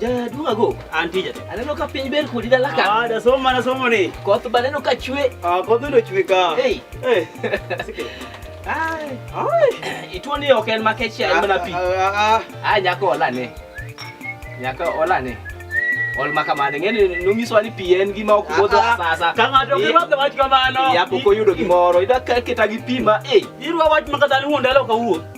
Jaduong' ago, an tija. Aneno ka piny ber kodi dala ka. Ah, da somo mana somo ni. Koth ba neno ka chwe. Ah, koth ndo chwe ka. Hey. Hey. Ai. Ai. Ituo ni ok en makech ya mana pi. Ah, ah, ah. nyako ola ne. Nyako ola ne. Ol maka mane ngene nungiswa ni pi en gima ok bodho sasa. Ka ng'ato ok rwako wach kamano. Ya pok oyudo gimoro. Ida keta gi pi ma eh. Irwa wach maka dhani wuon dala ok awuo.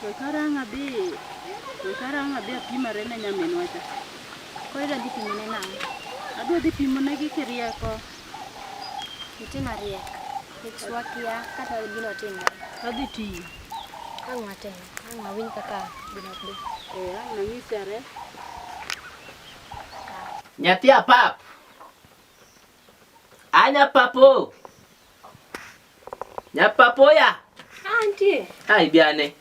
Koy kara ang' adhi, koy kara ang' adhi apimare ne nyaminwa cha. Koro idwa dhi pimone nang'o? Adwa dhi pimonegi kirieko. Nitie mariek. Nikech wakia kata gino timore. Adhi tiyo. Ang' watem. Ang' wawinj kaka gino dhi. Eh, ang' nanyisi are. Nyathi apap. Anya papo. Nya papo ya. Antie. Ai biane.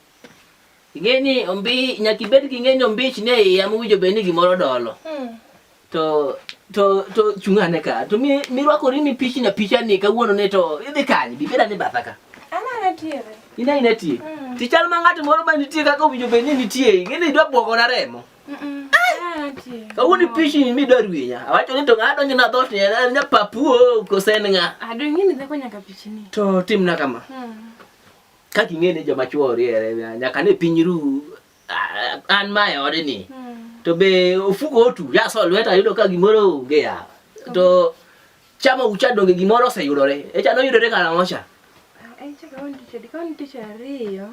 Ingeni ombi nyaki bed gi ng'enyo ombich ne iya muwijo beni gimoro dolo. Hmm. To to to chungane ka. To mi mirwakori ni pichi na picha ni kawuono ne to idhi kanye? Bibeda ni batha ka. Ana na tiere. Ina ina tiere. Hmm. Tichal ma ng'at moro ma nitie kaka owijo beni nitie. Ingeni idwa bwogo na remo. Kawuni pishi ni midwa rwinya. Awacho ni to ng'ado ni na dhot ni en nya papuo kosen ng'a. Ado ah, ng'ini dhako nyaka pichi ni. To timna kama. Hmm. Ka king'eni joma chuo riere nyaka ni piny ru ah, an ma e ode ni. Hmm. To be ofuko otu ya so lweta yudo ka gimoro onge ya. To chama ucha donge gimoro oseyudore. Echa noyudore karang'o cha? Echa kawuono tich adi? Kawuono tich ariyo.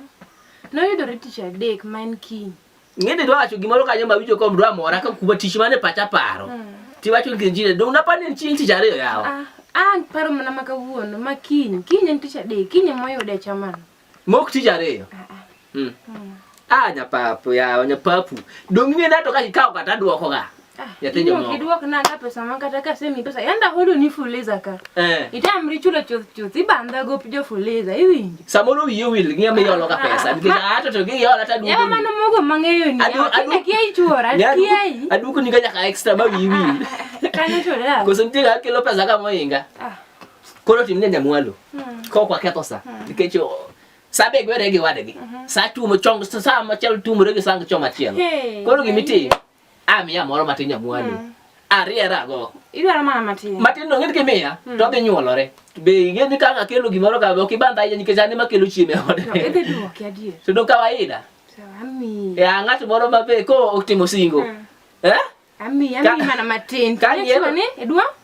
Noyudore tich adek ma en kiny. Ngende dwa wacho gimoro kanyo ma winjo kom dwa mora ka kuba tich mane pacha paro. Mm. Ti wacho ni njine do unapa ni chieng tich ariyo yawa. Ah, ah paro mana maka wuon ma kiny, kiny en tich adek, kiny mo yude chaman. Mok tich ariyo. Ah, ah. Mm. Mm. Ah, nyapapu yawa, nyapapu. Dong ngende to ka kikawo kata duoko ga. Ah, yateja moko. Kiduok na ka pesa man kata ka semi pesa yanda hodo ni fuliza ka. Eh. Itamri chulo chuth chuth ibanda go jo fuliza iwinjo. Samoro wiye wil ngiya mi yolo ka ah, pesa nikech ah. ato to gi yola ta duogo. Yawa mano mogo mangeyo ni. Adu adu kia ichora kia i. Adu kuni ka nyaka extra ba wiye wil. Kanyo to da. Koso nitie ga kelo pesa ka moinga. Ah. Koro timne nyamwalo. Hmm. Ko kwa ketho sa. Hmm. Nikech sa be gwere gi wadgi. Mhm. Sa tumo chong sa ma chal tumo regi sang choma chiel. Koro gimiti. Hey. Amiya moro matin nyamwani. Mm. Ariera go. Idwaro mana matin. Matin dong' idhi miya mm. to dhi nyuolore. Be ing'e ni ka akelo gimoro ka ok ibandha ahinya nikech an ema kelo chiemo e ode. Idhi duoki adier. To dong' kawaida. Ami. E ng'at moro ma be ko otimo singo. Mm. Eh? Ami, ami mana matin. Ka yiero ni idwa?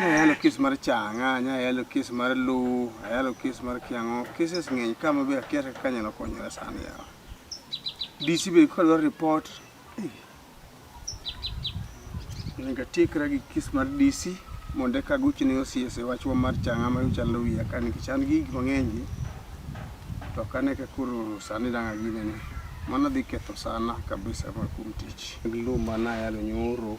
Ayalo kes mar changa, ayalo kes mar lu, ayalo kes mar kiango, cases ng'eny ka ma be akia kaka anyalo konyora sani yawa. DC be ka dwaro report, eh. Onego atiekra gi kes mar DC mondo eka agochi ne OCS e wachwa mar changa ma chalo wiya ka nikech an gi gik mang'eny gi to ok ane ka koro sani dang' aginene. Mano dhi ketho sana kabisa ma kuom tich. Lu ma nayalo nyoro.